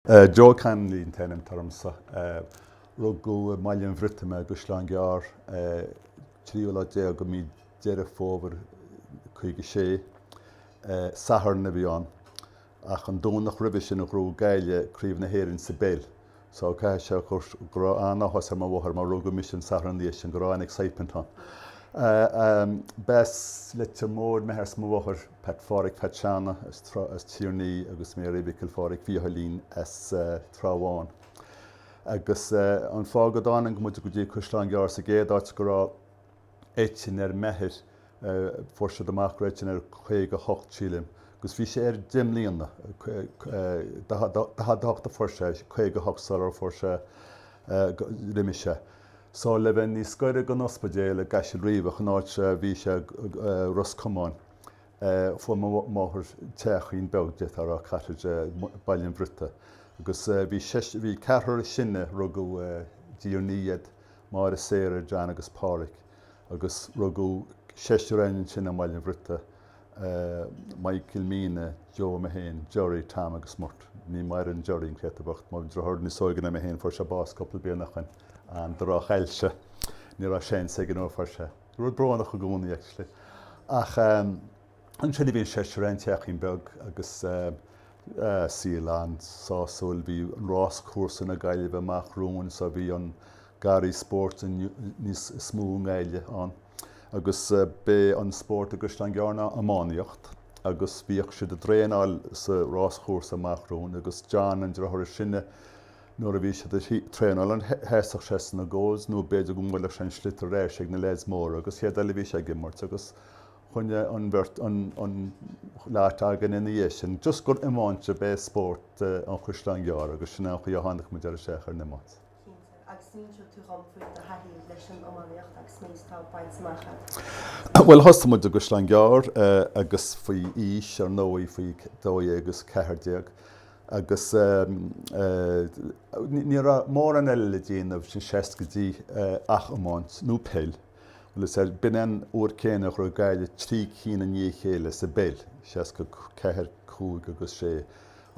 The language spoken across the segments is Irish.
Joe Connolly an t-ainm atá ormsa. Rugadh i mBaile an Bhriotaigh mé i gCaisleán Gearr, 13ú lá de mhí Deireadh Fómhair 56. Satharn a bhí ann. Ach an Domhnach roimhe sin a ghnóthaigh Gaillimh craobh na hÉireann sa bpeil. So caithfidh sé go raibh an-áthas ar mo mháthair mar rugadh mise an Satharn ina dhiaidh sin, go raibh an-excitement ann. B'as Leitir Móir m'athair 's mo mháthair, Peait Pháraic Pheaits Seána as Tír an Fhia agus Mary Mhicil Pháraic Mhícheáilín as Trá Bháin. Agus an fáth go dtáinig muid go dtí Caisleán Gearr sa gcéad áit go raibh. eitinn ar m'athair, fuair siad amach go raibh eitinn air 58, sílim, agus bhí sé air deich mbliana, 48 a fuair sé, 58 sular fuair sé, d'imigh sé. So, le bheith níos gaire gon ospidéal i gCaisleán Riabhach, an áit a bhí sé, Ros Comáin, fuair mo mháthair teachín beag, d'fhéadfá a rá, cottage, i mBaile an Bhriotaigh, agus bhí seisean, bhí an ceathrar is sine, rugadh i dTír an Fhia iad, Máire, Sarah, John agus Páraic agus rugadh seisear againn ansin i mBaile an Bhriotaigh, Michael, Míne, Joe, mé féin, Gerry, Tom agus Murt. Ní mhaireann Gerry, an créatúr bocht, mo dhriotháir níos óige ná mé féin, fuair sé bás cúpla bliain ó shin, an drochailse, ní raibh seans aige nuair a fuair sé, rud brónach i gcónaí actually ach. Ansin a bhí an seisear againn, teachín beag agus saol an-sásúil. Bhí an rás-chúrsa na Gaillimhe amach romhainn so bhí an garraí spóirt níos, is mó i nGaillimh againn. Agus b'é an spórt i gCaisleán Gearr ná iománaíocht agus bhíodh siad a' traenáil sa rás-chúrsa amach romhainn agus John, an driotháir is sine, nuair a bhí siad a' traenáil ann sheasfadh sé sna goals nó b'fhéidir go mbuailfeadh sé an sliotar ar ais ag na leaids móra agus an chéad rud eile bhí sé ag imirt agus choinnigh an bheirt, an lot againn ina dhiaidh sin, just gur iomáint ab ea spórt an Chaisleáin Ghearr agus sin é an chaoi a tháinig muid ar, isteach ar an iomáint. Cinnte. Agus an inseoidh tú dhom faoi do thaithí leis an iománaíocht agus an méid atá bainte amach agat. Bhuel, thosaigh muid i gCaisleán Gearr agus faoi aois, ar ndóigh, faoi dó dhéag agus ceathair déag agus ní raibh mórán eile le déanamh sna seascaidí ach iomáint nó peil. Bhuel, is ea, b'in an uair céanna a ghnóthaigh Gaillimh trí cinn i ndiaidh a chéile sa bpeil, seasca a ceathair, cúig agus sé,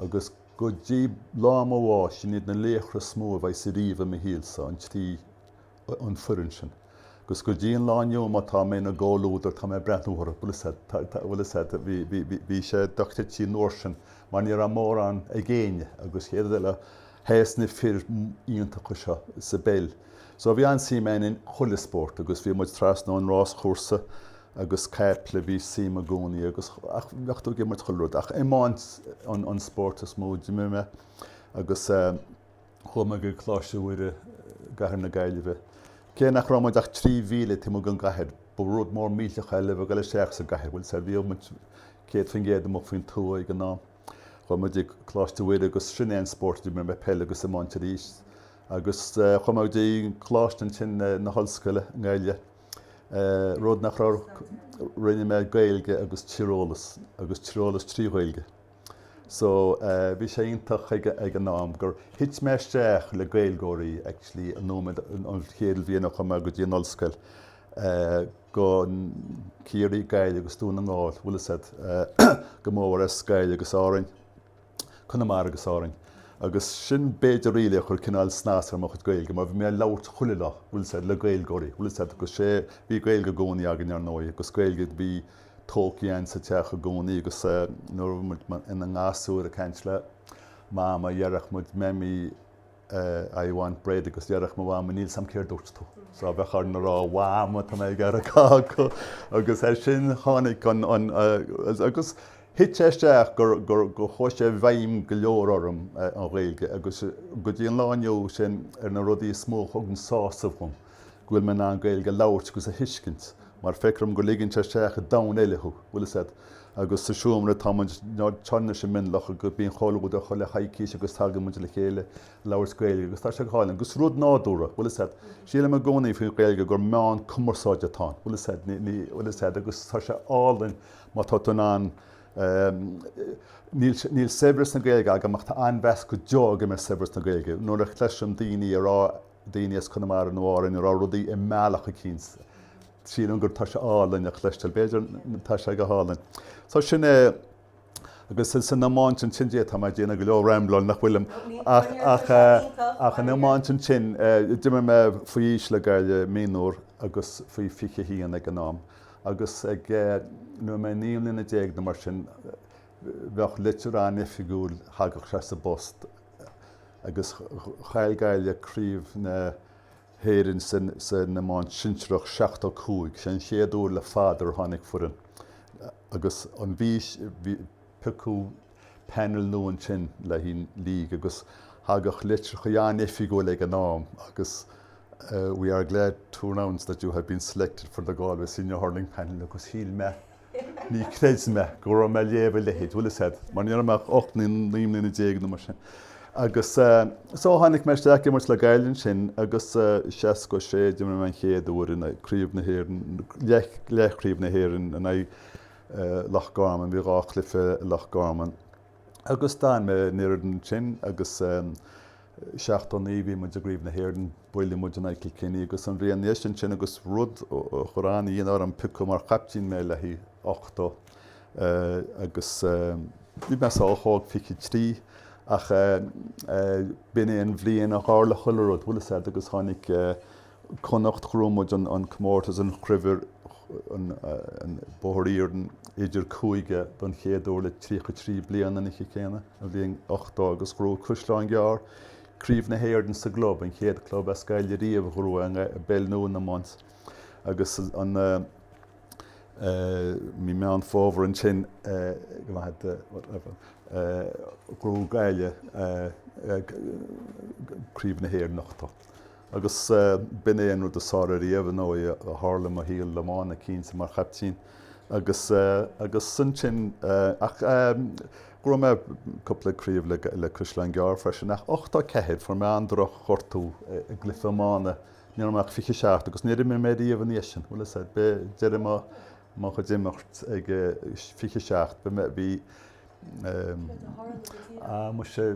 agus go dtí lá mo bháis, sin iad na laochra is mó a bheas ariamh i mo shaolsa, an trí fhoireann sin. Agus go dtí an lá inniu, má tá mé ina gcomhluadar, tá mé ag breathnú orthu. Bhuel, is ea, bhí sé dochreidte an uair sin, mar ní raibh mórán ag éinne, agus céard eile, Théis na fir iontacha seo sa bpeil. So bhí an-suim ann in chuile spórt agus bhí muid trasna ón ráschúrsa agus caiple, bhí suim i gcónaí agus, ach bheadh tú ag imirt chuile rud. Ach iomáint an spórt is mó a d'imir mé agus chuaigh mé go Coláiste Mhuire i gcathair na Gaillimhe. Cé nach raibh muid ach trí mhíle taobh amuigh den gcathair, ba rud mór millteach é le bheith ag dul isteach sa gcathair, bhfuil a fhios agat, bhí muid céad faoin gcéad amuigh faoin tuath ag an am. Chuaigh mé go Coláiste Mhuire agus sin é an spórt a d'imir mé, peil agus iomáint arís. Agus chuaigh mé go dtí Coláiste ansin, na hollscoile i nGaillimh, rud nach raibh, rinne mé Gaeilge agus Tíreolas agus Tíreolas trí Ghaeilge. So bhí sé iontach ag an am gur thit mé isteach le Gaeilgeoirí actually an nóiméad, an chéad bhliain a chuaigh mé go dtí an ollscoil. go Ciarraí, Gaillimh agus Dún na nGall, bhfuil a fhios agat go mór Gaillimh agus Árainn, Conamara agus Árainn, agus sin b'fhéidir really a chuir cineál snas ar mo chuid Gaeilge, mar bhí mé ag labhairt chuile lá, bhfuil a fhios agat, le Gaeilgeoirí, bhfuil a fhios agat, agus sé, bhí Gaeilge i gcónaí againn ar ndóigh, agus Gaeilge a bhí tolky ann sa teach i gcónaí, agus nuair a bhí muid ina ngasúir ag caint le Mama, déarfadh muid Mammy, a I want bread agus déarfadh mo Mhama níl 's a'm céard dúirt tú so a bheadh orainn a rá Mhama tá mé ag iarraidh cáca agus ar sin tháinig an agus thit sé isteach gur gur go chuaigh sé i bhfeidhm go leor orm an Ghaeilge agus go dtí an lá inniu sin ar na rudaí is mó a thugann sásamh dhom. go bhfuil mé in ann Gaeilge a labhairt agus a thuiscint, mar feictear dom go ligeann sé isteach i domhan eile thú, bhfuil a fhios agat, agus sa seomra atá muid, ina suí i Mionlach agus bíonn comhluadar chuile choicís agus tagann muid le chéile ag labhairt Gaeilge agus tá sé go hálainn, agus rud nádúrtha, bhfuil a fhios agat, sílim i gcónaí faoin Ghaeilge gur meán cumarsáide atá ann, bhfuil a fhios agat, ní, ní, bhfuil a fhios agat, agus tá sé álainn má tá tú in ann, ehm, níl, níl saibhreas na Gaeilge agam ach tá an-mheas go deo agam ar saibhreas na Gaeilge, nuair a chloisim daoine ag rá, daoine as Conamara nó Árainn ag rá rudaí i mbealach éicint, sílim gur tá sé álainn a chloisteáil. B'fhéidir, tá sé go hálainn. So sin é. Agus san iomáint ansin Dia, tá mé déanamh go leor rambláil nach bhfuilim, ach ach, ach an iomáint ansin, d'imir mé faoi aois le Gaillimh mionúr agus faoi 21 ag an am. Agus ag, nuair a bhí mé naoi mbliana déag nó mar sin, bheadh litir an-oifigiúil, thagadh sé sa bpost, agus chaill Gaillimh craobh na hÉireann san iomáint shinsearach 75. Sé an chéad uair le fada ar tháinig foireann agus an bhí siad ag piocadh panel nua ansin le haghaidh an League agus thagadh litreacha an-oifigiúil ag an am agus We are glad to announce that you have been selected for the Galway Senior Hurling Panel agus shíl mé Ní chreid mé go raibh mé ag léamh a leithéid, bhfuil 'fhios a't, mar ní raibh mé ach ocht nó naoi mbliana déag nó mar sin. Agus so tháinig mé isteach ag imirt le Gaillimh ansin agus i seachtó sé d'imir mé an chéad uair in craobh na hÉireann, leathchraobh na hÉireann in aghaidh Loch Garman, bhí dhá chluiche i Loch Garman. Agus d'fhan mé an oiread ansin agus. 79 bhí muid i gcraobh na hÉireann, buaileadh muid in aghaidh Chill Chainnigh agus an bhliain ina dhéis ansin agus rud a chuir an-ionadh orm, piocadh mar chaiptín mé le haghaidh 80 agus bhí mé sách óg, 23, ach b'in é an bhliain a tharla chuile rud, bhfuil 'fhios a't, agus tháinig. Connacht ghnóthaigh muid an comórtas an chraobh an Bóthar Iarainn idir cúige don chéad uair le tríocha trí bliana an oíche chéanna an bhliain ochtó agus ghnóthaigh Caisleán Gearr craobh na hÉireann sa gclub, an chéad club as Gaillimh riamh a ghnóthaigh i bpeil nó in iomáint agus an i mí Meán Fómhair ansin ghnóthaigh Gaillimh craobh na hÉireann ochtó. Agus b'in é an rud is fearr riamh, ar ndóigh, a tharla i mo shaol iomána cinnte, mar chaiptín agus agus ansin ach ghnóthaigh mé cúpla craobh le le Caisleán Gearr freisin. Ach ochtó ceathair, fuair mé an-drochghortú i gcluiche iomána, ní raibh mé ach fiche seacht agus níor imir mé riamh ina dhiaidh sin. Bhfuil 'fhios a't, b'é deireadh mo mo chuid imirt ag fiche seacht, bhí mé, bhí eh, ah muise,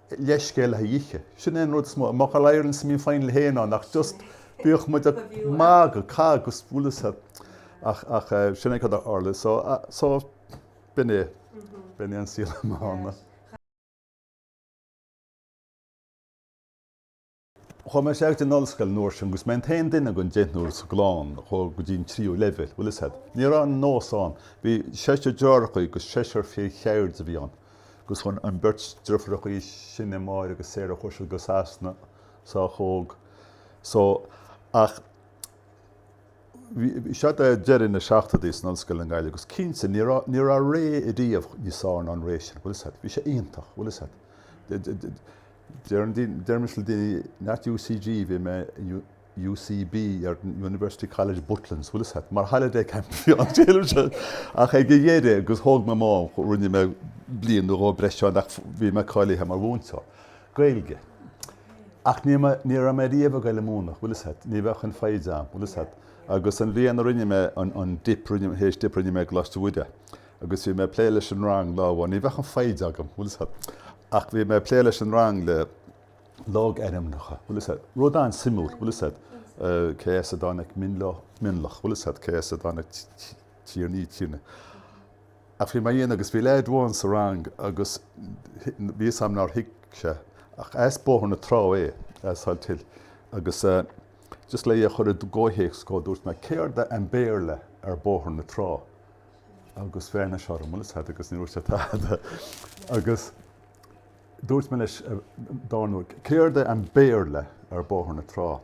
leithscéal le ithe. Sin é an rud is mó. Má chuir All-Ireland semi-final hay ná nach just bhíodh muid ag magadh, cag, agus bhfuil 'fhios a't ach ach sin é cad a tharla. So so b'in é. B'in é an saol iomána. Chuaigh mé isteach in ollscoil an uair sin agus mé an t-aon duine den deichniúr sa gclann a chuaigh go dtí an tríú leibhéal. Bhfuil 'fhios a't, ní raibh an nós ann. Bhí seisear deartháireachaí agus seisear fir cheirde a bhí ann agus chuaigh an bheirt deirfiúrachaí sin, Máire agus Sarah, chuaigh siad go Sasana sách óg so ach bhí siad ag deireadh na seachtóidí san ollscoil i nGaillimh agus cinnte ní raibh, ní raibh ré riamh níos fearr ná an ré sin. Bhfuil 'fhios a't, bhí sé iontach. Bhfuil 'fhios a't. Deirimse le daoine, not UCG, bhí mé in UCB, University College Butlins, bhfuil 'fhios a't, mar holiday camp a bhí ann, deirimse sin. Ach ag a dheireadh, agus thóg mé m'am, rinne mé bliain nó dhó breise ann ach bhí mé cáilithe mar mhúinteoir Gaeilge. Ach ní mé, ní raibh mé riamh ag goil a múineadh, bhfuil 'fhios a't, ní bheadh an foighid a'm, bhfuil 'fhios a't. Agus an bhliain a rinne mé an, an dip, rinne, H.Dip, rinne mé i gColáiste Mhuire. Agus bhí mé ag plé leis an rang lá amháin, ní bheadh an foighid agam, bhfuil 'fhios a't. Ach bhí mé ag plé leis an rang le logainmneacha, bhfuil fhios agat, rud an-suimiúil, bhfuil fhios agat, cé as a dtáinig Mionlach, bhfuil fhios agat, cé as a dtáinig Tierney, Tierney. Ach bhí mé á dhéanamh agus bhí leaid amháin sa rang agus bhí fhios a'm nár thuig sé, ach as Bóthar na Trá é, as Salthill, agus just le é a chur i gcomhthéacs dhó, dúirt mé, céard é an Béarla ar Bóthar na Trá? agus bhreathnaigh sé orm, bhfuil fhios agat agus níor dhúirt sé tada agus dúirt mé leis an dara huair, céard é an Béarla ar Bóthar na Trá?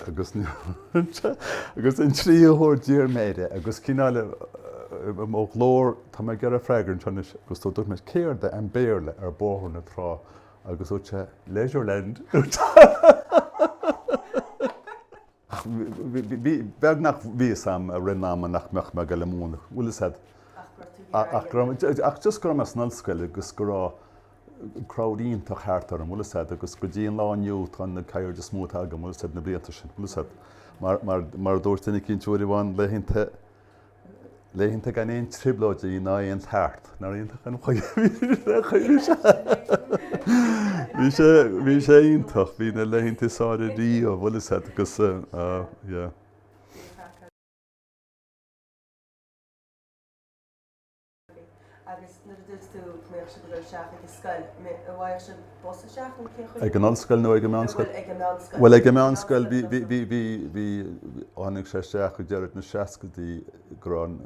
agus níor dhúirt sé agus an tríú huair d'iarr mé air é agus cineál i mo ghlór, tá mé ag iarraidh freagra uait anois, agus dúirt mé, céard é an Béarla ar Bóthar na Trá? agus dúirt sé, Leisureland. Ach beagnach bhí fhios agam i rith an ama nach mbeadh mé ag dul ag múineadh, bhfuil fhios agat. Ach go raibh tú thiar ag an ollscoil. Ach just go raibh mé san ollscoil agus go raibh crowd iontach thart orm, bhfuil fhios agat, agus go dtí an lá inniu tá na cairde is mó atá agam, bhfuil fhios agat, na blianta sin, bhfuil fhios agat. Mar a dúirt duine eicínt uair amháin, laethanta. laethanta gan aon trioblóidí ná aon tart, nár iontach an chaoi a chuir sé. Bhí sé bhí sé iontach, bhí na laethanta is fearr ariamh, bhfuil fhios agat agus yeah. Agus nuair a dúirt tú go mbeadh sibh ag dul isteach ag an scoil, bhfaigheadh sibh bus isteach nó cén chaoi? Ag an ollscoil nó ag an meánscoil? Bhuel, ag an meánscoil. Bhuel, ag an meánscoil, bhí, bhí, bhí, bhí, bhí, tháinig sé isteach ag deireadh na seascaidí go raibh an,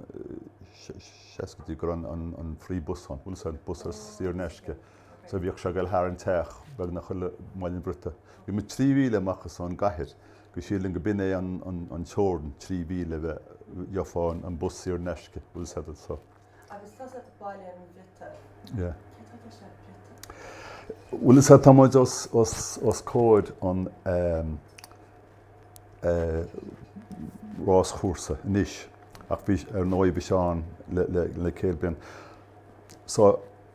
seascaidí go raibh an, an free bus ann, bhfuil fhios agat, an bus ar saor in aisce. So bhíodh sé ag dul thar an teach beagnach chuile lá i mBaile an Bhriotaigh. Bhí muid trí mhíle amach as an gcathair. So sílim go mb'in é an teorainn trí mhíle a bheith gheofá an bus saor in aisce, bhfuil fhios agat, so. Agus tusa as Baile an Bhriotaigh. Yeah. Cé tá deis agat Briotaigh? Bhuel is ea, tá muid os comhair an ráschúrsa anois ach bhí, ar ndóigh bhí sé ann le céad bliain. So,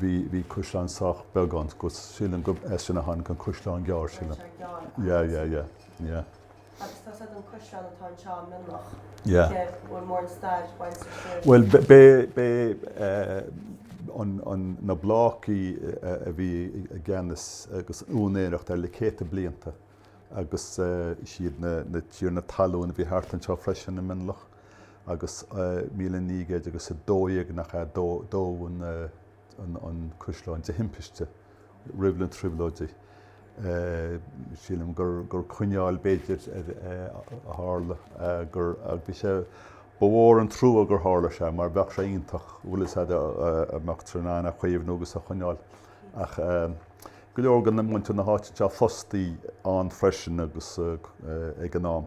bhí, bhí caisleán sách beag ann so, sílim go, as sin a tháinig an Caisleán Gearr, Tá sílim. sé gearr ach Yeah, yeah, yeah, yeah. Agus tá a fhios agat an caisleán atá anseo i Mionloch, Yeah. an bhfuil mórán stair bainte leis siúd. Bhuel, b- b'é, b'é eh, an, an, na Blácaí eh, a bhí i gceannas agus úinéireacht air le céadta blianta agus eh, siad na, na tiarna talún a bhí thart anseo freisin i Mionloch. agus 1912 nach ea dódh an caisleán de thimpiste, roimh na Trioblóidí. Sílim gur coinneal, b'fhéidir, a tharla, agus bhí sé, ba mhór an trua gur tharla sé, mar bheadh sé iontach, bhfuil 'fhios a'd, dá mbeadh tú in ann a chaomhnú agus a choinneáil. Ach go leor de mhuintir na háite anseo fostaí ann freisin agus ag an am.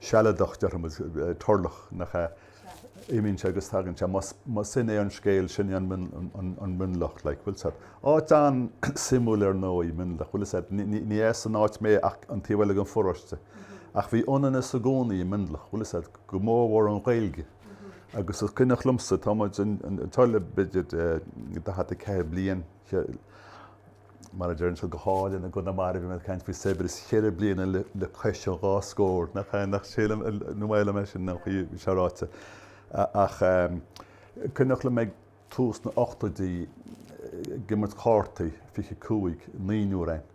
sealadach, déarfaimid, turlach, nach ea? Imíonn sé agus tagann sé. Mar sin é an scéal, sin é an Mionlach, like, bhfuil 'fhios a'd? Áit an-suimiúil ar ndóigh, Mionlach, bhfuil 'fhios a'd? Ní as an áit mé ach an taobh eile den pharóiste. Ach bhí ionannas i gcónaí i Mionlach, bhfuil 'fhios a'd? Go mórmhór an Ghaeilge. Agus is cuimhneach liomsa, tá muid anseo le b'fhéidir 44 bliain, Mar a deireann siad go hálainn i gConamara, bhí mé ag caint faoi saibhreas, cheithre bliana le cois an dhá scór. Nach ea? Sílim, nó mhaith liom é sin an chaoi a bhí sé ráite. Ach cuimhneach liom ag tús na n-ochtóidí ag imirt chártaí, 25, naonúr ann,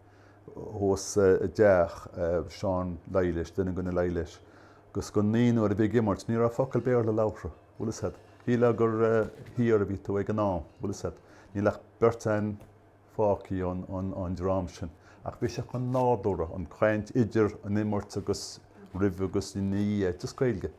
thuas i dteach Seán Laighléis, duine de na Laighléis, agus den naonúr a bhí ag imirt, ní raibh focal Béarla labhartha. Bhfuil 'fhios a'd. Shílfeá gur thiar a bhí tú ag an am. Bhfuil 'fhios a'd. Níl ach beirt a'inn fágthaí ón dream sin. Ach bhí sé chomh nádúrtha, an chaint idir an imirt agus roimh agus ina dhiaidh, just Gaeilge.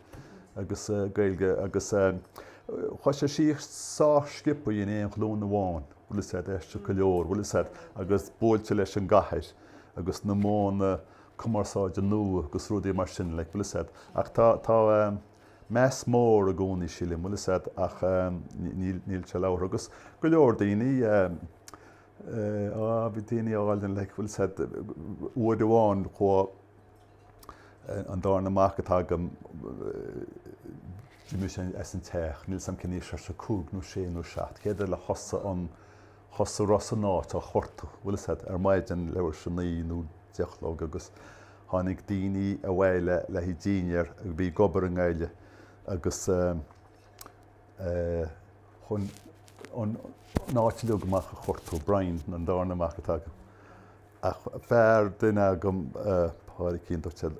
Agus Gaeilge. Agus chuaigh sé síos sách sciopthaí in aon ghlúin amháin. Bhfuil 'fhios a'd, d'aistrigh go leor. Bhfuil 'fhios a'd. Agus buailte leis an gcathair agus na modhanna cumarsáide nua agus rudaí mar sin, like. Bhfuil 'fhios a'd. Ach tá, tá. meas mór i gcónaí, sílim. Bhfuil 'fhios a'd, ach níl sé labhartha agus go leor daoine, á, bhí daoine álainn, like, bhfuil 'fhios a'd, uair amháin chuaigh an darna mac atá agam, d'imigh sé as an teach, níl 's a'm cén aois, cúig nó sé nó seacht, chéad rud eile thosaigh an, Thosaigh Ros an áit a chuartú, bhfuil 'fhios a'd, ar maidin leathuair théis a naoi nó deich a chlog agus tháinig daoine abhaile le haghaidh dínnéir a bhí ag obair i nGaillimh agus chuaigh an áit uilig amach á chuartú, Brian, an darna mac atá agam, ach fear, duine acu, Pádraicín, dúirt sé,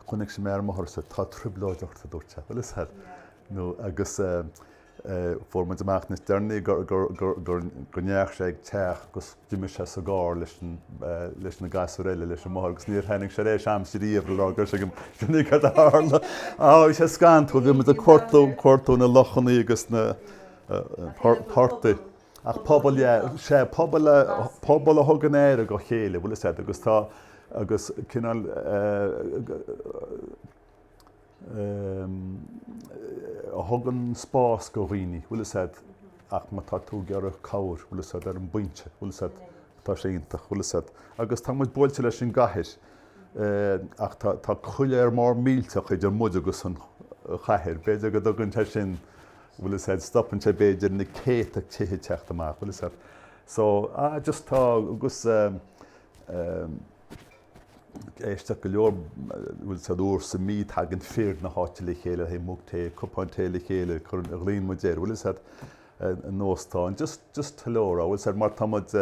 chonaic sé mé ar an mbóthar, tá trioblóid ort, a dúirt sé, bhfuil 'fhios a'd, nó agus. Fuair muid amach níos deireanaí go ndeachaigh sé ag teach agus d'imigh sé sa gcarr leis na gasúir eile leis an máthair agus níor tháinig sí ar ais a'msa riamh le rá gur sin é cad a tharla. Bhí sé scanntrúil, bhí muid ag cuartú na lochannaí agus na portaigh ach pobal, sea, pobal a thugann aire dá chéile, bhfuil 'fhios a'd, agus tá, agus cineál, a thugann spás do dhaoine, bhfuil a fhios a'd, ach má tá tú ag iarraidh cabhair, bhfuil a fhios a'd ar an bpointe, bhfuil a fhios a'd, tá sé iontach, bhfuil a fhios a'd. Agus tá muid buailte leis an gcathair, ach tá, tá coiléar mór millteach idir muid agus an chathair, b'fhéidir go dtugann sé sin, bhfuil a fhios a'd, stopann sé b'fhéidir na céadta tithe teacht amach, bhfuil a fhios a'd. So, ah, just tá, agus, eh, eh, Aisteach go leor, bhfuil a fhios a'd uair sa mí, tagann fir na háite le chéile le haghaidh mug tae, cupán tae le chéile, cuireann, a ghlaonn muid air, bhfuil fhios a't, in óstán, just, just hello a rá, bhfuil a fhios a'd, mar tá muid,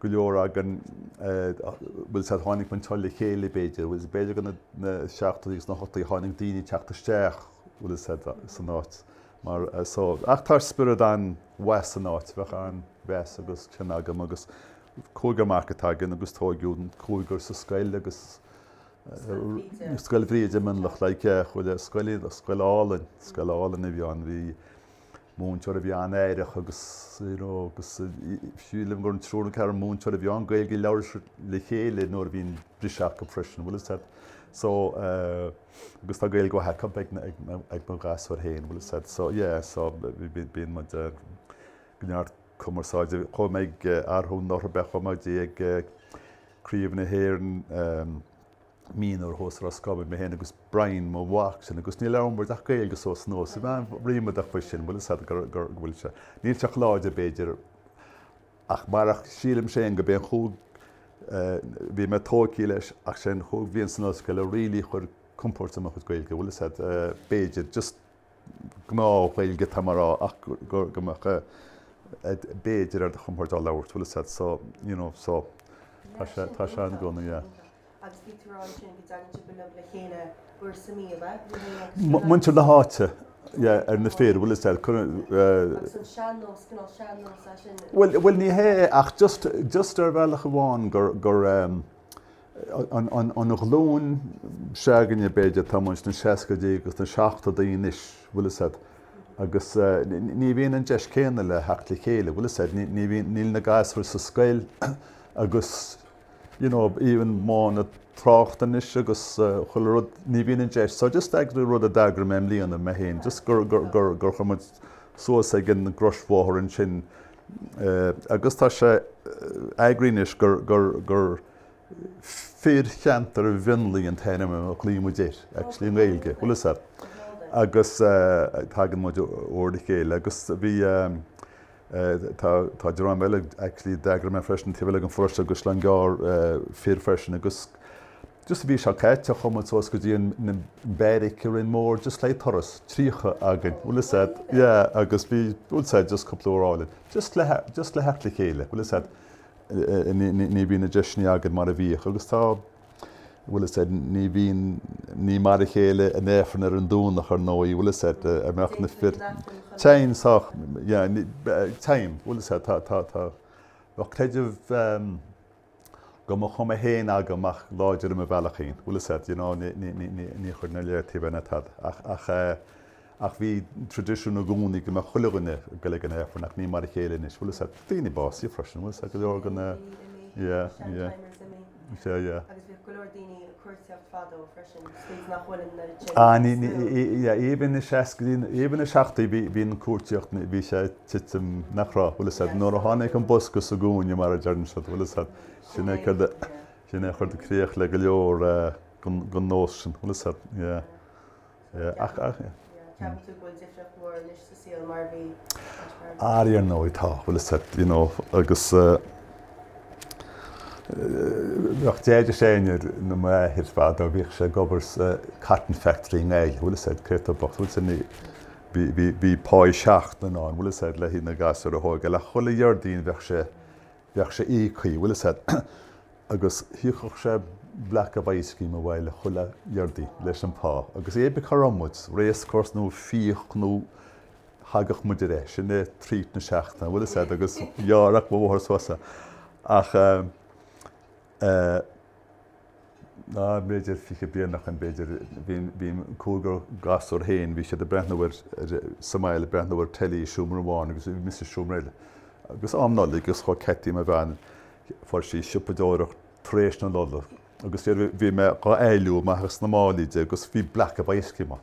go leor againn, bhfuil a fhios a'd, tháinig muid anseo le chéile b'fhéidir, bhfuil, b'fhéidir go na seachtóidí agus na hochtóidí tháinig daoine ag teacht isteach, bhfuil fhios a't, san áit. mar so. Ach tá spiorad an-mhaith san áit, bheadh an-mheas agus cion agam agus cúigear mac atá againn agus tóigeadh an cúigear sa scoil agus Scoil Bhríde i Mionlach like chuile scoil, scoil álainn, scoil álainn a bhí ann, bhí múinteoir a bhí an-aireach agus you know agus sílim gur an triúr nó ceathrar múinteoir a bhí ann, Gaeilge a labhair siad le chéile nuair a bhíonn briseadh acu freisin, bhfuil a fhios a'd. So. agus tá Gaeilge mhaith acu ag na gasúir féin, bhfuil a fhios a'd, so, yeah, so, bíonn muid ag go neart cumarsáide, chuaigh muid arú anuraidh, ab ea, chuaigh muid ag Craobh na hÉireann Mionúr thuas i Ros Comáin, mé féin agus Brian, mo mhac sin, agus ní labhrann muid ach Gaeilge suas anuas, ríméadach faoi sin, bhfuil a fhios a'd, go bhfuil sé, níl sé chomh láidir, b'fhéidir, Ach marach sílim féin go b'é an chúig bhí mé tóigthe leis ach sé an chúig bhliain san ollscoil a really chuir compóirt ar mo chuid Gaeilge, bhfuil a fhios a'd b'fhéidir just gnáth-Ghaeilge atá mé a rá ach go mbeadh b'fhéidir ar do chompord á labhairt, bhfuil a fhios a'd so, you know, so tá sé ann i gcónaí, yeah. agus bhí tú ag rá ansin go dtagann sibh uilig le chéile uair sa mí, ab ea? Ní hé, a dúirt an. Muintir na háite, yeah, ar na fir, bhfuil a fhios a'd, eh. Agus an sean-nós, cineál sean-nós é sin? Bhuel, bhuel, ní hé, ach just, just ar bhealach amháin gur, gur, ehm, an, an, an ghlúin se'againne, b'fhéidir, atá muid sna seascaidí agus sna seachtadaí anois, bhfuil a fhios a'd, agus, eh, ní bhíonn an deis céanna le theacht le chéile, bhfuil a fhios a'd, ní, ní bhíonn, níl na gasúir sa scoil agus. you know, even modh na tráchta anois agus chuile rud, ní bhíonn an deis. So just, eh, rud a d'eagraigh mé i mbliana, mé féin, just gur, gur, gur, gur chuaigh muid suas ag an gcrosbhóthar ansin eh, agus tá sé eh, eagraithe anois gur, gur, gur Fir Cheantar Mhionlaigh an t-ainm a ghlaoigh muid air, actually, i nGaeilge. Bhfuil a fhios a'd. Agus eh, tagann muid uair le chéile agus bhí eh, Tá, tá dream eile, actually, d'eagraigh mé freisin, taobh eile den pharóiste Caisleán Gearr, fir freisin agus just an mhí seo caite chuaigh muid suas go dtí an, na beairic i Rinn Mór, just le turas, 30 againn, bhfuil 'fhios a'd, yeah, agus bhí, bhfuil 'fhios a'd, just cúpla uair álainn, just le, just le theacht le chéile, bhfuil 'fhios a'd, ní, ní, ní bhíonn na deiseanna againn mar a bhíodh agus tá, bhfuil 'fhios a'd, ní bhíonn, ní mar a chéile an Aifreann ar an Domhnach ar ndóigh, bhfuil 'fhios a'd, a mbeadh na fir, téim sách, yeah, ní, téim, bhfuil 'fhios a'd, tá, tá, tá, bheadh creideamh de mo chuma fhéin agam ach láidir i mo bhealach fhéin, bhfuil 'fhios a'd, you know, ní, ní, ní, ní, ní chuireann a léartaí bheith ná tada ach, ach, Ach bhí traidisiún i gcónaí go mbeadh chuile dhuine ag goil chuig an Aifreann, ach ní mar a chéile anois. Bhfuil 'fhios a'd, daoine básaithe freisin, bhfuil 'fhios a'd, go leor de na, yeah, yeah, is ea, yeah. Agus bhíodh go leor daoine ag cuartaíocht fadó freisin, scaoilte nach bhfuil an oiread sin. Ah, ní, ní, yeah, even na seascaidí, even na seachtóidí, bhí, bhí an cuartaíocht, bhí sé ag titim nach raibh, bhfuil 'fhios a'd, nuair a tháinig an bosca sa gcúinne, mar a deireann siad, bhfuil 'fhios a'd, sin é céard a, sin é a chuir críoch le go leor den nós sin, bhfuil 'fhios a'd, yeah. Ach ar ndóigh, tá. Ceapann tú go bhfuil difríocht mhór anois sa saol mar a bhí ach mar a bhí? Ar ndóigh, tá. Bhfuil 'fhios a'd, you know, agus bheadh Deaide féin, ar ndóigh, m'athair fadó bhíodh sé ag obair sa cotton factory i nGaillimh, bhfuil 'fhios a'd, cé atá bocht, bhfuil 'fhios a'd, bhí, bhí, bhí pá seachtaine ann, bhfuil 'fhios a'd, le haghaidh na ngasúr a thógáil ach chuile Dhéardaoin bheadh sé Bheadh sé íoctha, bhfuil 'fhios a'd, agus thiúrfadh sé block of ice cream abhaile chuile Dhéardaoin leis an phá agus cébí cá raibh muid, race course nó fiach nó thagadh muid ar ais, sin é treat na seachtaine, bhfuil 'fhios a'd, agus ghearrfadh mo mháthair suas é ach. Ná b'fhéidir fiche bliain ach b'fhéidir bhí an cúigear gasúr féin, bhí siad ag breathnú ar, sa mbaile ag breathnú ar telly i seomra amháin agus bhí mise i seomra eile. Agus am Nollag agus chuaigh Ceití, mo bhean, fuair sí siopadóireacht tar éis na Nollag agus bhí mé dhá éilliú amach as na málaí di agus bhí block of ice cream ann.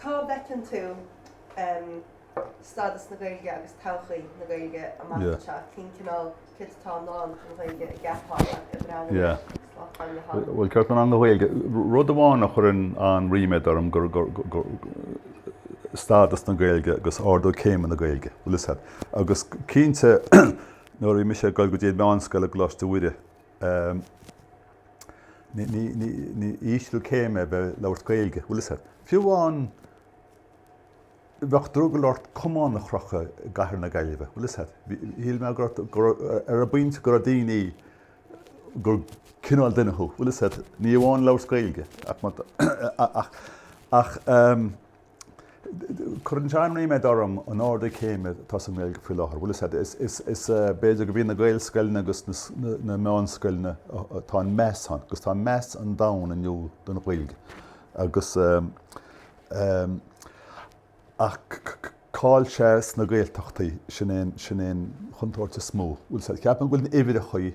Cá bhfeiceann tú stádas na Gaeilge agus todhchaí na Gaeilge amach anseo? Cén cineál céard atá i ndán don Ghaeilge an gceapfá ag breathnú air? Bhuel, cearta na Gaeilge, rud amháin a chuireann an-ríméad orm gur stádas na Gaeilge agus ardú céime na Gaeilge, bhfuil 'fhios a'd. Agus cinnte nuair a bhí mise ag dul go dtí an mheánscoil i gColáiste Mhuire, B'ísliú céime é bheith ag labhairt Gaeilge, bhfuil 'fhios a'd. Fiú amháin, bheadh drogall ort camán a chrochadh i gcathair na Gaillimhe, bhfuil 'fhios a'd. Shíl mé ar an bpointe go raibh daoine, gur cineál duine thú, bhfuil 'fhios a'd, ní amháin labhairt Gaeilge ach Cuireann sé an-ríméad orm an ardú céime atá sa nGaeilge faoi láthair. Bhfuil fhios a'd, is b'fhéidir go bhí na Gaelscoileanna agus na meánscoileanna atá an meas ann, agus tá meas an domhain inniu don Ghaeilge. Agus ach cá'il sé sna Gaeltachtaí, sin é an chontúirt is mó. Bhfuil fhios a'd, ceapaim go bhfuil na huimhreachaí.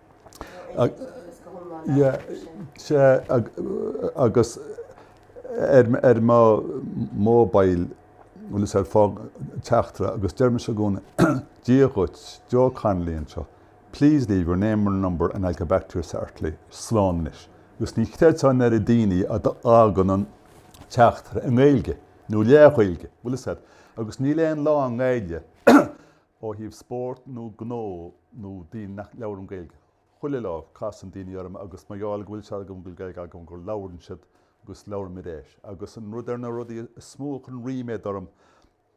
Agus ar mo mobile, bhfuil fhios a'd, fág teachtaire agus deirimse i gcónaí, Dia dhuit, Joe Connolly anseo, please leave your name and number and I'll get back to you shortly, slán anois. Agus ní chreidfeá an oiread daoine a fhágann an teachtaire i nGaeilge, nó leath-Ghaeilge, bhfuil fhios a'd, agus níl aon lá i nGaeilge Ó thaobh spóirt nó gnó nó daoine nach labhraim Gaeilge, chuile lá casann daoine orm agus mar gheall go bhfuil fhios acu go bhfuil Gaeilge agam go labhrann siad agus labhraímid é. Agus an rud ar na rudaí is mó a chuireann ríméad orm,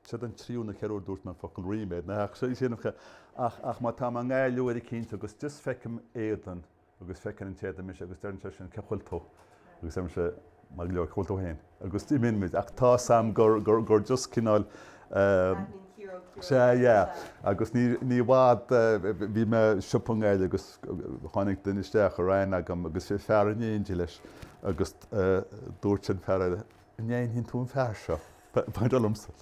seod an tríú nó ceathrú uair a dúirt mé an focal ríméad, ach má tá mé i nGaillimh uair eicínt agus just feicim éadan, agus feiceann an t-éadan mise agus deireann sé sin cén chaoi a bhfuil tú? agus deirimse maith go leor cén chaoi a bhfuil tú fhéin? agus imíonn muid ach tá fhios a'm gur gur gur just cineál sea yeah agus ní ní i bhfad bhí mé i siopa i nGaillimh agus tháinig duine isteach a raibh aithne agam agus bhí fear in éindigh leis agus dúirt an fear eile an aithníonn tú an fear seo? Maidir liomsa.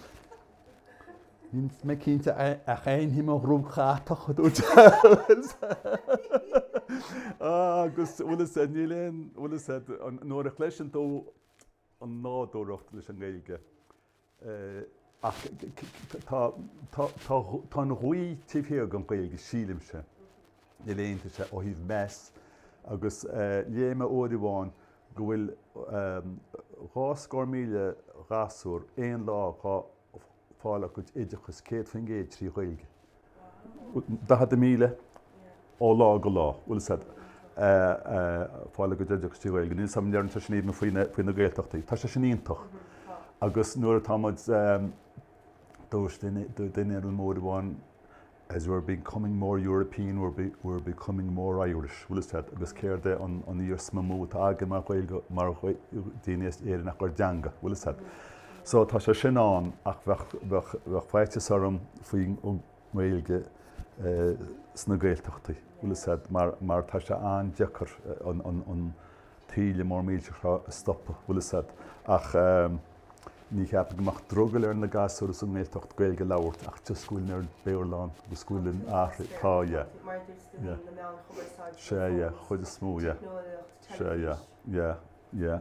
Níl mé cinnte ach aithním an ghruaig chatach, a dúirt sé. Agus bhfuil fhios a'd, níl aon, bhfuil fhios a'd, nuair a chloiseann tú an nádúracht leis an nGaeilge, ach tá, tá, tá, tá an ghaoth taobh thiar den Ghaeilge, sílimse. Níl aon, tá sé ó thaobh meas agus léigh mé uair amháin go bhfuil dhá scór míle gasúr aon lá ag fáil a gcuid oideachas céad faoin gcéad trí Ghaeilge. Daichead míle ó lá go lá bhfuil fhios a'd a' fáil a gcuid oideachas trí Ghaeilge. Níl 's agam an ndeireann sé sin aoibhinn faoi na Gaeltachtaí. Tá sé sin iontach agus nuair atá muid, dúirt duine liom uair amháin, as we're becoming more European, we're we're becoming more Irish, bhfuil fhios a'd, agus céard é an an iarsma is mó atá againn mar Ghaeilge mar daoine as Éirinn ach ár dteanga, bhfuil fhios a'd. So tá sé sin ann ach bheadh bheadh bheadh faitíos orm faoin an nGaeilge sna Gaeltachtaí, bhfuil fhios a'd, mar mar tá sé an-deacair an an an taoille mór millteach a stopadh, bhfuil fhios a'd, ach ní cheapaim go mbeadh drogall ar na gasúir sa nGaeltacht Gaeilg a labhairt ach just go bhfuil an oiread Béarla ann agus go bhfuil an-athrú, tá, yeah, yeah, sé, yeah, chuid is mó, yeah, sé, yeah, yeah, yeah.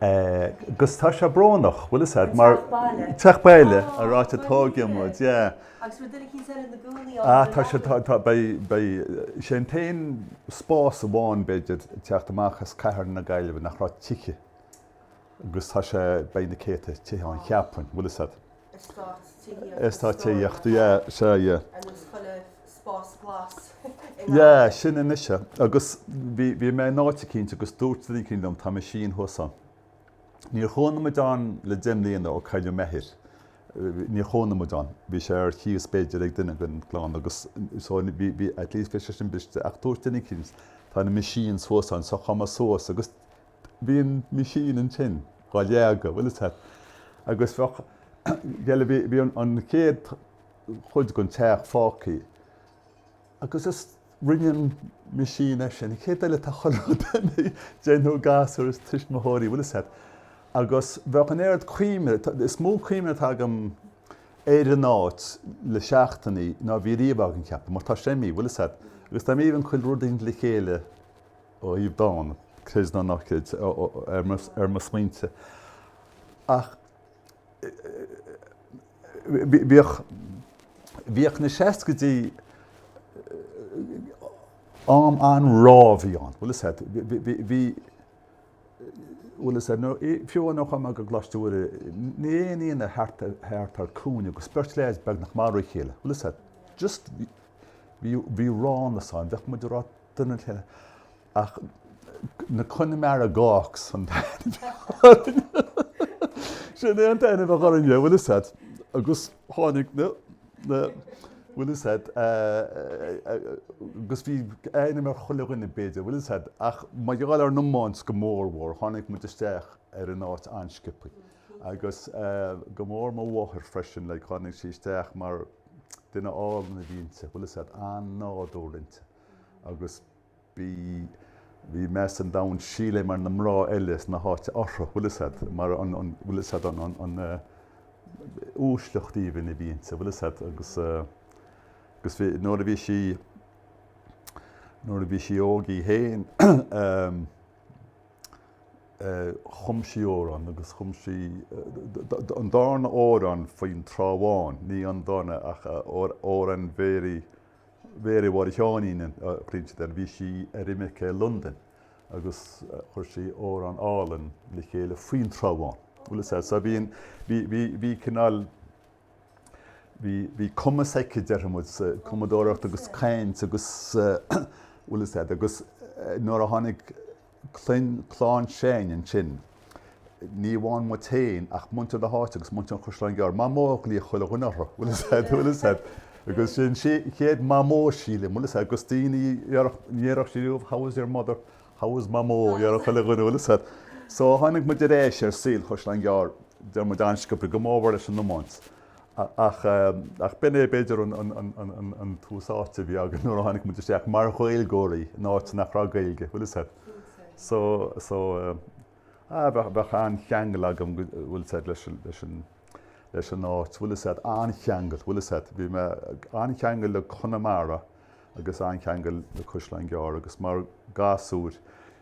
'Gus tá sé brónach, bhfuil fhios a'd, mar. An teach baile. An teach baile, an áit ar tóigeadh muid, yeah. Agus bhfuil daoine eicínt eile ina gcónaí ann. Ah, tá sé, tá, tá, beidh, beidh, sé an t-aon spás amháin, b'fhéidir, teacht amach as cathair na Gaillimhe nach raibh tithe. 'Gus tá sé, beidh na céadta tithe ann, cheapfainn, bhfuil fhios a'd. Eastát tithíochta, yeah, sure, yeah. An bhfuil chuile spás glas i nGaillimh? Yeah, sin anois é. Agus bhí mé in áit eicínt agus dúirt duine eicínt liom, tá machine thuas ann. Níor chónaigh muid ann le deich mbliana ó cailleadh m'athair. Níor chónaigh muid ann. Bhí sé ar chíos b'fhéidir ag duine den gclann agus so bhí at least bhí sé sin briste. Ach dúirt duine eicínt, tá na machines thuas ann so chuaigh mé suas agus Bhí an machine ansin dhá leagadh, bhfuil fhios a'd, agus bheadh, gheall, bhí an chéad chuid den teach fágthaí agus is, rinne an machine é sin, an chéad eile tá chuile rud ina, déanfadh an gasúr is tuismitheoirí, bhfuil fhios a'd, agus bheadh an oiread cuimhne, is mó cuimhne atá agam ar an áit le seachtainí ná bhí riamh agam, ceapaim, mar tá sé imithe, bhfuil fhios a'd, agus tá, imíonn chuile rud in éindí le chéile, thaobh dán Craos na nOrcaid ar mo smaointe, ach bhíodh na seascaidí am an-rábhaí ann. Bhfuil fhios a'd, bhí, bhfuil fhios a'd, fiú nuair a chuaigh mé go Coláiste Mhuire, ní raibh aon Aoine thart thar cúinne agus beirt leaids beagnach ag marú a chéile. Bhfuil fhios a'd, just, bhí ránas ann, bheadh muid a rá, Duine le ach na Connemara Gawks an t-ainm sin é an t-ainm a bhí acu orainne, bhfuil fhios a'd agus tháinig na na bhfuil fhios a'd agus bhí ainm ar chuile dhuine b'fhéidir, bhfuil fhios a'd ach mar gheall ar an iomáint go mór mhór tháinig muid isteach ar an áit an-sciobthaí agus go mór mo mháthair freisin, like, tháinig sí isteach mar duine álainn a bhí inti, bhfuil fhios a'd an-nádúr inti. Agus bhí, bhí meas an domhain, sílim, ar na mná eile sna háite uirthi, bhfuil fhios a'd, mar an, an, bhfuil fhios a'd an, an, an, an uaisleacht aoibhinn a bhí inti, bhfuil fhios a'd, agus, agus bhí, nuair a bhí sí, nuair a bhí sí óg í fhéin, um, uh, chum sí amhrán, agus chum sí, uh, an darna amhrán faoin Trá Bháin, ní an darna ach uh, amhrán bhéirí, Mhéaraí Mháire Sheáinín an chaointe de, bhí sí ar imirce i Londain agus chuir sí amhrán álainn le chéile faoin Trá Bháin. Bhfuil 'fhios a'd, so bhí, bhí cineál, bhí, bhí cumas aici, déarfaidh muid, sa chumadóireacht agus caint agus, bhfuil 'fhios a'd, agus nuair a tháinig, clann, clann s'againn ansin, ní amháin muid féin ach muintir na háite agus muintir an Chaisleáin Ghearr. Mamó a ghlaoigh chuile dhuine uirthi, bhfuil 'fhios a'd, bhfuil 'fhios a'd. Agus sin í an chéad Mamó, sílim, bhfuil 'fhios a'd, agus daoine, ní déarfadh siad riamh, how is your mother, how is Mamó, a déarfadh chuile dhuine, bhfuil 'fhios a'd. So tháinig muid ar ais ar shaol Chaisleáin Ghearr, deir muid an-sciobtha, go mór mhór leis an iomáint. Ach b'in é, b'fhéidir, an tús áite a bhí againn nuair a tháinig muid isteach mar Ghaeilgeoirí in áit nach raibh Gaeilge, bhfuil 'fhios a'd. So, so, eh, bheadh an-cheangal agam, bhfuil 'fhios a'd, leis an, leis an, leis an áit, bhfuil 'fhios a'd, an-cheangal, bhfuil 'fhios a'd. Bhí mé, an-cheangal le Conamara agus an-cheangal le Caisleán Gearr agus mar gasúir,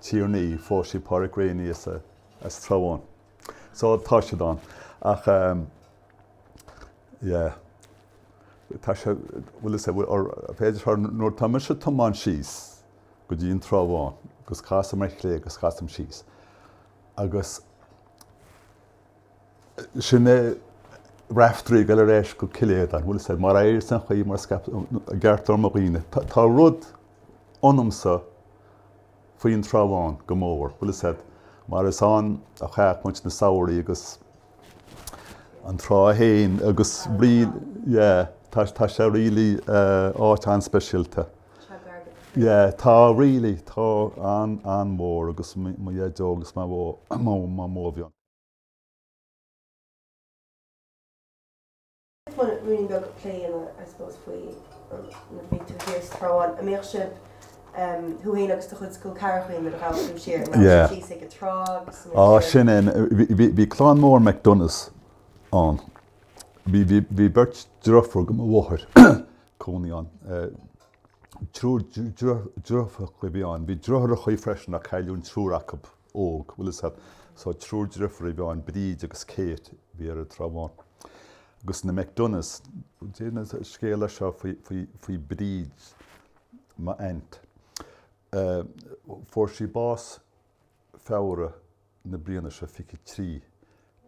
Tír an Fhia, phós sí Pádhraic Reaney as Trá Bháin. So tá siad ann. Ach yeah. Tá sé, bhfuil 'fhios a'd, b'fhéidir nuair tá mise ag tiomáint síos go dtí an Trá Bháin agus casaim ar chlé agus casaim síos agus sin é Raiftearaí ag dul ar ais go Cill Aodáin, bhfuil 'fhios a'd, mar éiríos an ghaoth mar a scaip an i gceartlár mo dhaoine, tá rud ionamsa faoin Trá Bháin go mór, bhfuil 'fhios a'd, mar is ann a chaith muid na samhraí agus an trá fhéin agus rí yeah tá tá sé really eh, áit an-speisialta. Yeah, tá really tá an an mór agus mo Dhaideo agus Mamó, Mamó a bhí ann. Bhí clann mór McDonaghs ann. Bhí beirt driofúr go mo mháthair cónaí ann. Triúr driofúr a bhí ann. Bhí driotháireachaí freisin a cailleadh an triúr acub. óg, bhfuil fhios a't, so triúr driofúr a bhí ann, Bríd agus Kate, a bhí ar an Trá Bháin, agus na McDonaghs. Deir an scéal seo faoi Bríd, m'aint. Fuair sí bás Feabhra na bliana seo fiche trí,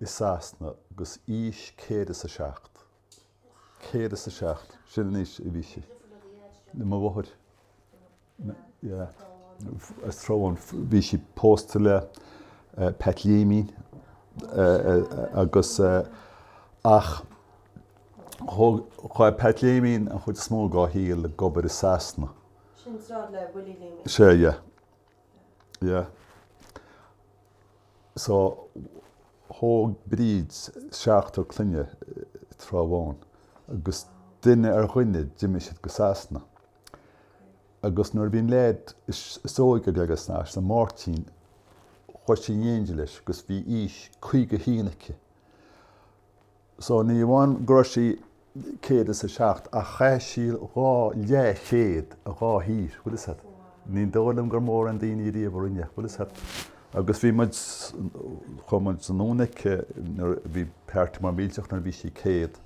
i Sasana, agus aois céad is a seacht. 107. Sin an aois a bhí sí le mo mháthair as an Trá Bháin. Bhí sí pósta le Pat Liaimín agus ach chaith Pat Liaimín an chuid is mó dá shaol ag obair i Sasana. Sin an tsráid le Willie Liaimín. Sea, yeah. yeah so thóg Bríd seachtar clainne sa Trá Bháin agus duine ar dhuine d'imigh siad go Sasana agus nuair a bhí an leaid is óige ag goil go Sasana, an Máirtín, chuaigh sí in éindí leis agus bhí aois 51 aici. So ní amháin go raibh sí céad is a seacht ach chaith sí dhá leathchéad i dhá thír, bhfuil 'fhios a'd. Ní dóigh liom gur mórán daoiní ariamh a rinne, bhfuil 'fhios a'd. Agus bhí muid, chuaigh muid anonn aici nuair, bhí party mór millteach nuair a bhí sí céad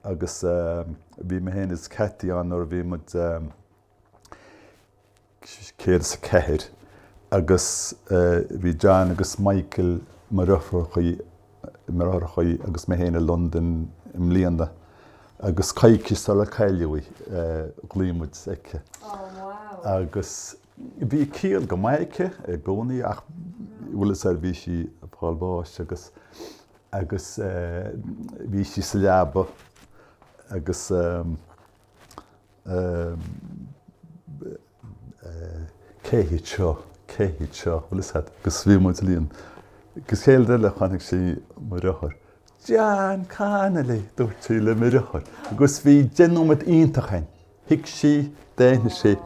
agus bhí mé féin is Katie ann nuair a bhí muid eh, 104, agus bhí John agus Michael mo dheartháireachaí agus mé féin i Londain i mbliana agus coicís sular cailleadh í, ghlaoigh muid aici. Agus bhí ciall go maith aici i gcónaí ach bhfuil 'fhios a'd bhí sí ag fáil bháis agus agus bhí sí sa leaba agus, Cé hiad seo? Cé hiad seo? Bhfuil 'fhios a'd, agus bhí muid uilig ann. An chéad rud eile chonaic sí mo dheartháir. John Connolly! dúirt sí le mo dheartháir agus bhí nóiméad iontach ann. Thuig sí, d'aithnigh sí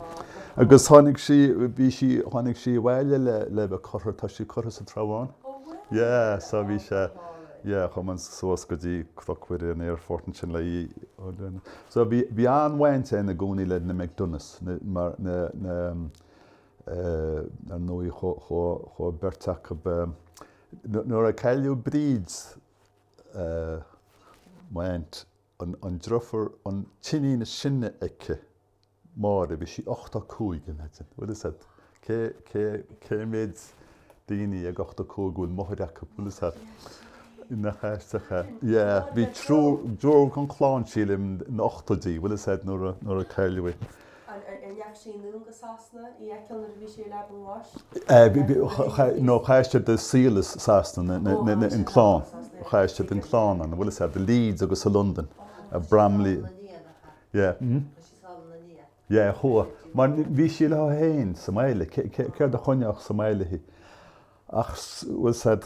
agus tháinig sí, bhí sí, tháinig sí abhaile le bheith curtha, tá sí curtha sa Trá Bháin. Ó bhuel. Yeah, so bhí sé. Yeah, chuaigh muid suas go dtí Cnoc Mhuire an aerfort ansin le híoc. So bhí an-bhaint againn i gcónaí le na McDonaghs, mar ar ndóigh chuaigh beirt acu ba. Nuair a cailleadh Bríd, m'aint, an deirfiúr, an t-iníon is sine aici Máire, Bhí sí ochtó a cúig in Eidin, bhfuil 'fhios a'd. Cé, cé, cé mhéid daoiní ag ochtó a cúig a bhfuil máthair acub, bhfuil 'fhios a'd. Nach aisteach é. Yeah, bhí triúr, triúr gon chlann sílim sna hochtóidí, bhfuil 'fhios a'd, nuair a, nuair a cailleadh í. An, an, an ndeachaigh siad anonn go Sasana í a fheiceáil nuair a bhí sí ar leaba an bháis? Eh, bhí, bhí, cha, cha, no, chaith siad a saol i Sasana, na, na, na, na, an clann, chaith siad an clann ann, bhfuil 'fhios a'd, i Leeds agus i Londain, i mBromley, Yeah, chuaigh. Mar bhí sí léi fhéin sa mbaile. Céard a choinneodh sa mbaile í? Ach bhfuil 'fhios a'd,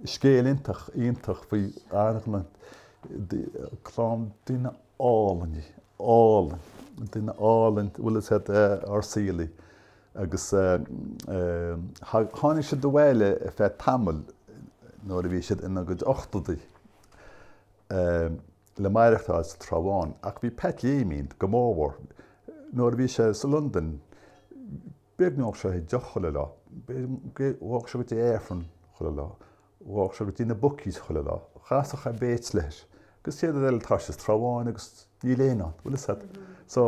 scéal iontach, iontach faoi argla clann duine álainn, álainn, duine álainn, bhfuil 'fhios a'd ár saolaí agus tháinig siad abhaile ar feadh tamaill nuair a bhí siad ina gcuid ochtadaí. le maireachtáil sa Trá Bháin, ach bhí Pat Léimín go mórmhór nuair a bhí sé sa Londain, b'fhéidir go n-óladh sé deoch chuile lá, ghabhadh sé go dtí Aifreann chuile lá, ghabhadh sé go dtí na bookies chuile lá, chasadh a mates leis, agus céard eile atá sé sa Trá Bháin agus níl éinne ann, bhfuil 'fhios a'd. So,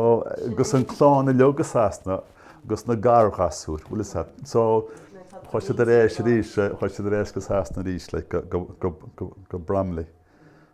agus an chlann uilig i Sasana agus na garghasúir, bhfuil 'fhios a'd. So, chuaigh siad ar ais arís, chuaigh siad ar ais go Sasana arís, like, go, go, go, go Bromley.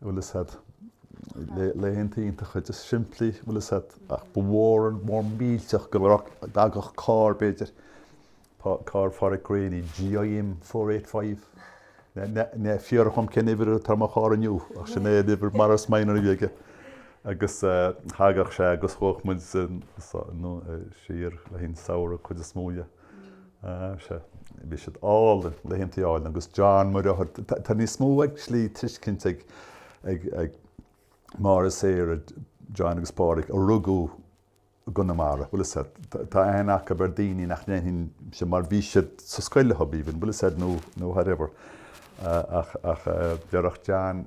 bhfuil 'fhios a'd, laethanta iontacha just simplí, bhfuil 'fhios a'd, ach ba mhór an mór millteach go dtagadh carr, b'fhéidir, carr Phádraic Greaney, GIM 485, ná fiafraigh dhíom cén uimhir atá ar mo charr inniu, ach sin é an uimhir Morris Minor a bhí aige, agus thagadh sé agus ghabhadh muid siar le haghaidh an tsamhraidh, cuid is mó de. Sea, bhí siad álainn, laethanta álainn agus John mo dheartháir. Tá níos mó i slí tuiscint ag Máire Sarah, John agus Pádraig, a rugadh i gConamara, bhfuil 'fhios a'd, tá aithne acu ar daoine nach n-aithneoinnse mar bhí siad sa scoil leo, even, bhfuil 'fhios a'd, nó whatever. Ach deireadh John.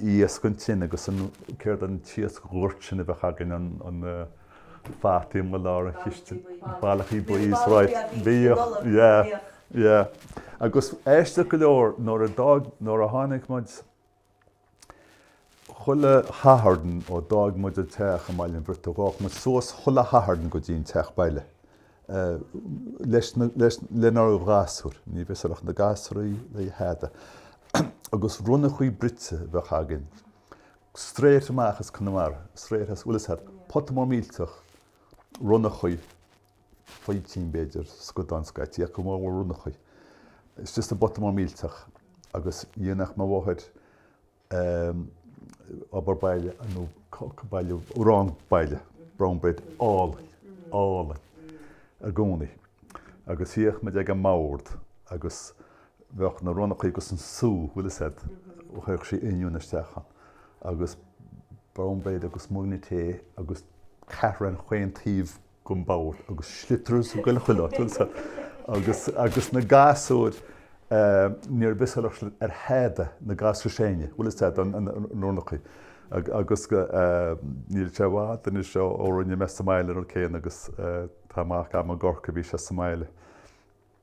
iasc an tine agus an céard an t-iasc goirt sin a bheadh againn na fataí i lár an chistin ballachaí buí is right bhíodh yeah yeah agus aisteach go leor nuair a d'fhág nuair a tháinig muid chuile Shatharn ó d'fhág muid an teach i mBaile an Bhriotaigh ghabhadh muid suas chuile Shatharn go dtí an teach baile leis na, leis, lenár ghasúir, ní bheadh súil ag na gasúir le tada, agus ronnachaí bruite a bheadh againn. Straight amach as Conamara, straight as, bhfuil 'fhios a'd, pota mór millteach ronnachaí, faoitín b'fhéidir, scadán scaití, ach go mórmhór ronnachaí. Istigh sa bpota mór millteach agus dhéanadh mo mháthair, eh, obair baile nó baile arán baile brown bread álainn, álainn i gcónaí agus shuíodh muid ag an mbord agus bheadh na ronnachaí agus an sú, bhfuil 'fhios a'd, chaitheadh sí oinniúin isteach ann agus brown bread agus mugannaí tae agus ceathrar ar chaon taobh go mall agus sliotars go leor chuile áit ansa agus agus na gasúir níor bhfios ar thada na gasúir is sine bhfuil 'fhios a'd an rúnachaí agus níl sé i bhfad anois ó ó rinne mé sa mbaile an rud céanna agus tá mac agam i gCorcaigh bhí sé sa mbaile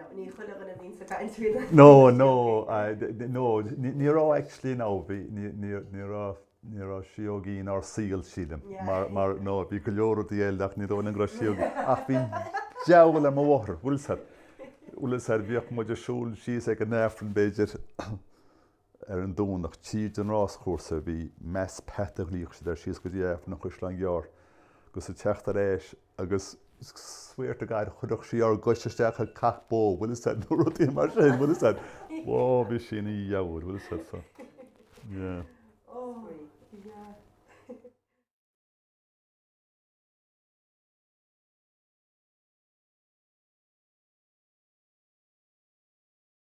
Nó ní chuile dhuine a bhíonn sa gcaint faoi na. No, no, no, ní raibh actually in ann, bhí, ní raibh, ní raibh síógaí in ár saol, sílim, mar, mar, nó, bhí go leor rudaí eile ach ní dóigh liom go raibh síógaí, ach bhí diabhal ar mo mháthair, bhfuil 'fhios a'd, bhfuil 'fhios a'd, bhíodh muid ag siúl síos ag an Aifreann, b'fhéidir, ar an Domhnach, tríd an ráschúrsa a bhí, Mass path a ghlaodh siad air, síos go dtí Aifreann an Chaisleáin Ghearr, agus ag teacht ar ais, agus. swear to God, chuirfeadh sí ár gcois isteach i cac bó, bhfuil 'fhios a'd, nó rudaí mar sin, bhfuil 'fhios a'd. Whoa, bhí sí ina diabhal, bhfuil 'fhios a'd, so, yeah.